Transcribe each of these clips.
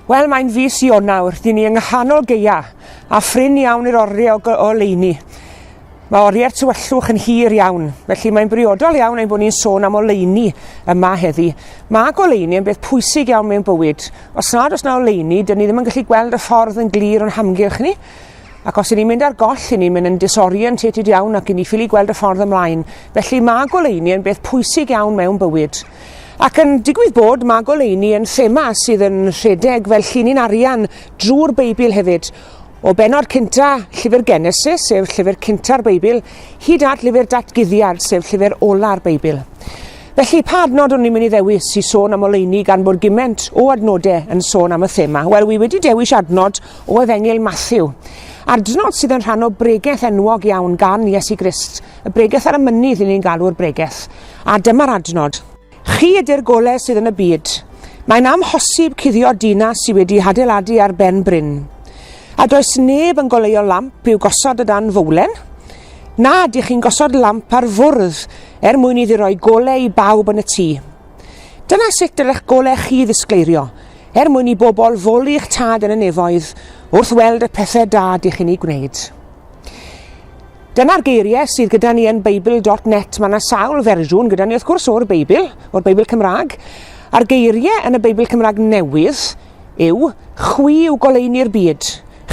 Wel, mae'n fis Ionawr, dyn ni yng nghanol geia, a phrin iawn i'r oriau o, o leini. Mae oriau'r tywyllwch yn hir iawn, felly mae'n briodol iawn ein bod ni'n sôn am oleuni yma heddi. Mae goleuni yn beth pwysig iawn mewn bywyd. Os nad oes na oleuni, dyn ni ddim yn gallu gweld y ffordd yn glir o'n hamgylch ni. Ac os 'yn ni'n mynd ar goll, 'yn ni'n mynd yn disorientated iawn ac 'yn ni ffili gweld y ffordd ymlaen. Felly mae goleuni yn beth pwysig iawn mewn bywyd. Ac yn digwydd bod, mae goleuni yn thema sydd yn rhedeg fel llinyn arian drwy'r Beibl hefyd. O benod cynta llyfr Genesis, sef llyfr cynta'r Beibl, hyd at llyfr Datguddiad, sef llyfr ola'r Beibl. Felly, pa adnod o'n i'n mynd i ddewis i sôn am oleuni gan bod gyment o adnodau yn sôn am y thema? Wel, wi wedi dewis adnod o Efengyl Mathew. A'r dnod sydd yn rhan o bregeth enwog iawn gan Iesu Grist, y bregeth ar y mynydd i ni'n galw'r bregeth. A dyma'r adnod. Chi ydy'r golau sydd yn y byd. Mae'n amhosib cuddio dinas sydd wedi hadeiladu ar ben bryn. A does neb yn goleuo lamp i'w gosod o dan fowlen. Na, dych chi'n gosod lamp ar fwrdd er mwyn iddi roi golau i bawb yn y tŷ. Dyna sut dylech goleg chi ddisgleirio, er mwyn i bobl foli eich tad yn y nefoedd wrth weld y pethau da dych chi'n ei gwneud. Dyna'r geiriau sydd gyda ni yn Bible.net. Mae yna sawl fersiwn gyda ni, wrth gwrs, o'r Beibl, o'r Beibl Cymraeg. A'r geiriau yn y Beibl Cymraeg newydd yw, chwi yw goleuni'r byd.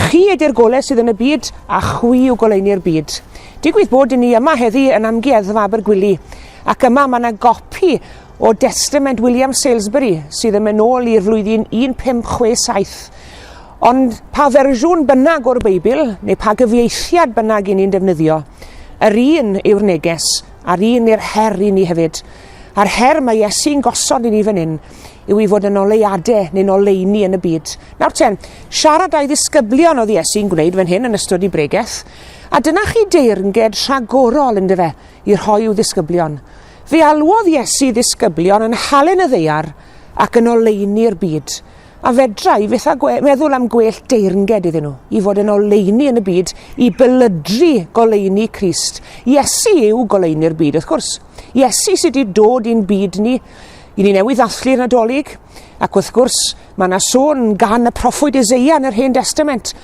Chi ydy'r golau sydd yn y byd, a chwi yw goleuni'r byd. Digwydd bod i ni yma heddi yn amgueddfa Abergwili, Ac yma mae yna gopi o destament William Salesbury sydd yn mynd ôl i'r flwyddyn 1567. Ond pa fersiwn bynnag o'r Beibl, neu pa gyfieithiad bynnag i ni'n defnyddio, yr un yw'r neges, a'r un i'r her i ni hefyd. A'r her mae Iesu'n gosod i ni fan hyn yw i fod yn oleuadau neu'n oleuni yn y byd. Nawr ten, siarad a'i ddisgyblion oedd Iesu'n gwneud fan hyn yn ystod i bregeth, a dyna chi deyrnged rhagorol, ynddo fe, i rhoi i'w ddisgyblion. Fe alwodd Iesu ddisgyblion yn halen y ddeiar ac yn oleuni'r byd, a fedra i fyth a gwe meddwl am gwell deyrnged iddyn nhw, i fod yn oleuni yn y byd, i bylydru goleuni Crist. Iesu yw goleuni'r byd, wrth gwrs. Iesu sydd wedi dod i'n byd ni, i ni newydd ddathlu'r Nadolig, ac wrth gwrs, Mae yna sôn gan y proffwyd Ezeia yn yr Hen Destament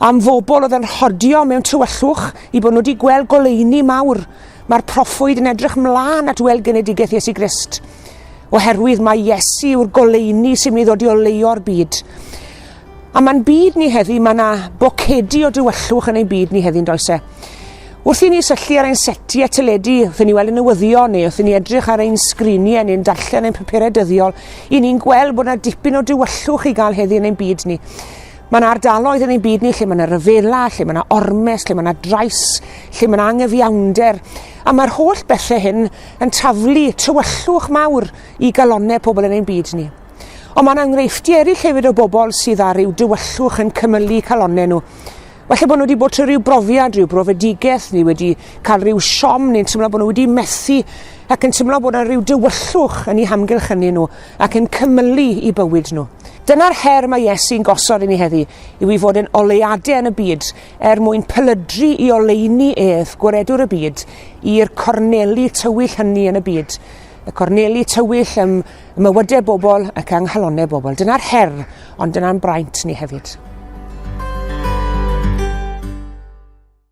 am fobl oedd yn rhodio mewn tywyllwch i bod nhw wedi gweld goleuni mawr. Mae'r proffwyd yn edrych mlaen at weld genedigaeth Iesu Grist, oherwydd mae Iesu yw'r goleuni sy'n mynd i ddod i oleio'r byd. A mae'n byd ni heddi, mae yna bocedi o dywyllwch yn ein byd ni heddi'n does e? Wrth i ni syllu ar ein setiau teledu, wrth i ni weld y newyddion neu wrth i ni edrych ar ein sgriniau neu'n darllen ein papurau dyddiol, I ni'n gweld bod yna dipyn o dywyllwch i gael heddi yn ein byd ni. Mae yna ardaloedd yn ein byd ni lle mae yna ryfela, lle mae yna ormes, lle mae yna drais, lle mae yna anghyfiawnder. A mae'r holl bethau hyn yn taflu tywyllwch mawr i galonau pobl yn ein byd ni. Ond mae yna enghreifftiau eraill hefyd o bobl sydd â rhyw dywyllwch yn cymylu calonnau nhw. Falle bod nhw wedi bod trwy rhyw brofiad, rhyw brofedigaeth, neu wedi cael rhyw siom, neu'n teimlo bod nhw wedi methu, ac yn teimlo bod yna rhyw dywyllwch yn ei hamgylch ynnu nhw, ac yn cymylu i bywyd nhw. Dyna'r her mae Iesu'n gosod i ni heddi, yw i fod yn oleuadau yn y byd, er mwyn pylydru i oleuni ef, gwaredwr y byd, i'r corneli tywyll hynny yn y byd. Y corneli tywyll ym y mywydau bobl ac yng nghalonnau bobl. Dyna'r her, ond dyna'n braint ni hefyd.